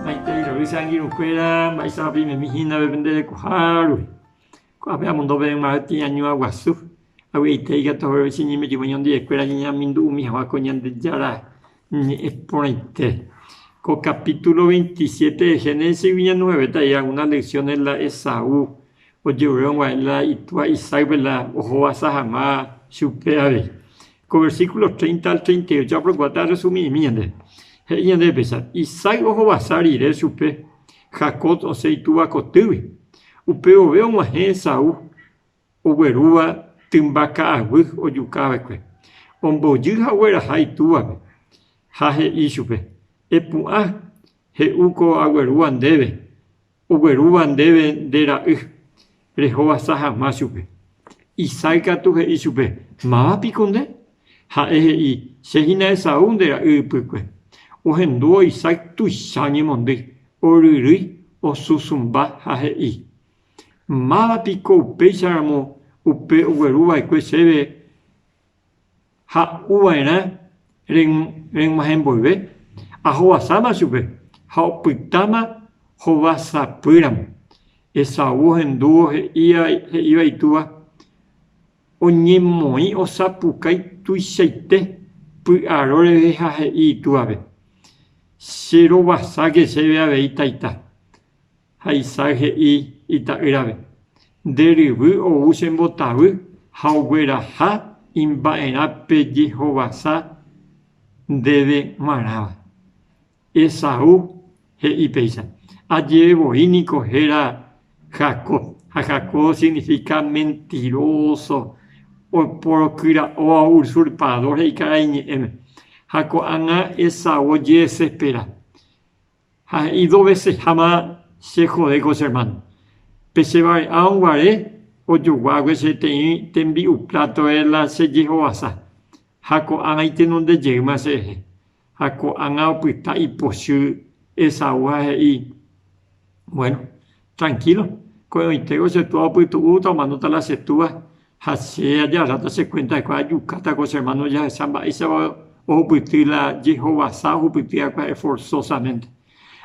Maitei revy che angirũ kuéra mba'eichapa pimemi hína pe pende rekoha rupi. Ko'ã pe amondo peẽ mave tiañua guasu, avy'aite ikatu haguépe che ñemirĩvo ñondive kuéra ñañeamindu'umi haguã ko Ñandejára ñe'ẽ porãite. Ko capítulo 27 de Génesis gui ñanuhevéta algunas lecciones la Esaú. ojerovia hag̃uáicha la itúa Isaac-pe la ohovasa hag̃ua chupe avei. Ko versíkulo 30 al 38 aprokuaáta aresumimi ñandéve. He'i ñandéve péicha, Isaac ohovasa rire chupe Jacob osẽ itúva kotýgui. Upe vove og̃uahẽ Esaú oguerúva tymba ka'aguy ojuka va'ekue. Ombojy ha ogueraha itúvape ha he'i chupe, Epu'ã, he'u ko aguerúva ndéve Oguerúva ndéve nde ra'y, rehovasa hag̃ua chupe. Isaac katu he'i chupe, Máva piko nde? Ha'e he'i, Che hína Esaú nde ra'y ypykue. Ohendúvo Isaac tuicha oñemondýi, oryrýi, osusũmba ha he'i, Máva piko upéicharamo upe ogueru va'ekue chéve ha uva'erã reg̃uahẽ mboyve, ahovasáma chupe ha opytáma hova sapy ramo. Esaú ohendúvo he'íva itúva oñemoĩ osapukái tuichaite py'aro reve ha he'i itúvape, Che rovasáke chéve avei taita. Ha Isaac he'i ita'ýrave, Nde ryvy ou che mbotavy ha ogueraha imba'erã pe jehovasa ndéve g̃uarãva. Esaú he'i péicha, Ajeve voi niko héra Jacob, ha Jacob signifika mentiróso, oporokyra'óva, usurpador he'i karai ñe'ẽme. Ha ko'ág̃a Esaú ojedesespera. Ha he'i doveseháma che jode ko che ermáno, pe che vare'árõ guare ojoguágue che teĩ tembi'u plátoe la che jehovasa, ha ko'ág̃a itenondejeýma cherehe. Ha ko'ág̃a opyta ipochy Esaú ha he'i, Bueno, Trankílo, ko'ẽvoitéko che túa opytu'úta omanóta la che túa, ha che ajaráta che kuénta hikuái ajukáta ko che ermáno ojahecha mba'éichapa ohupyty la jehovasa ohupyty ha'ekuéra esforsósamente.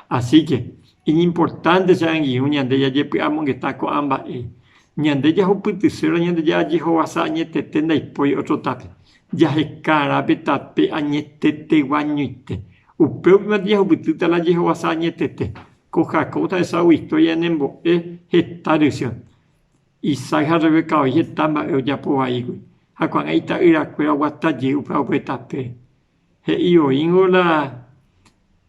Asíke, iñimportánte che angirũ ñande jajepy'amongeta ko'ã mba'e, Ñande jahupytyséro Ñandejára jehovasa añetete ndaipóri ótrotape, jaheka árape tape añeteteguañoite. Upévipante jahupytýta la jehovasa añetete, Ko Jacob ohechagua historia ñanembo'e heta rysy. Isaac ha Rebeca voi heta mba'e ojapo vaígui, ha ko'ág̃a ita'yrakuéra oguata jey upéva ope tapére. He'i oĩngo la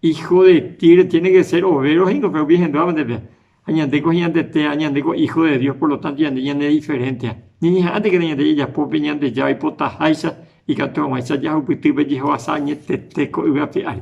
hijo de Tiro tiene que ser overo he'íngo pe umi henduápe ndépe. Ha ñande ko heñandetéva, ñande ko hijo de Dios, por lo tanto ñande ñane diferénte. Ñañeha'ãntekena ñande jajapópe Ñandejára oipotaháicha ikatu hag̃uáicha jahupyty pe jehovasa añetete ko yvy ape ári.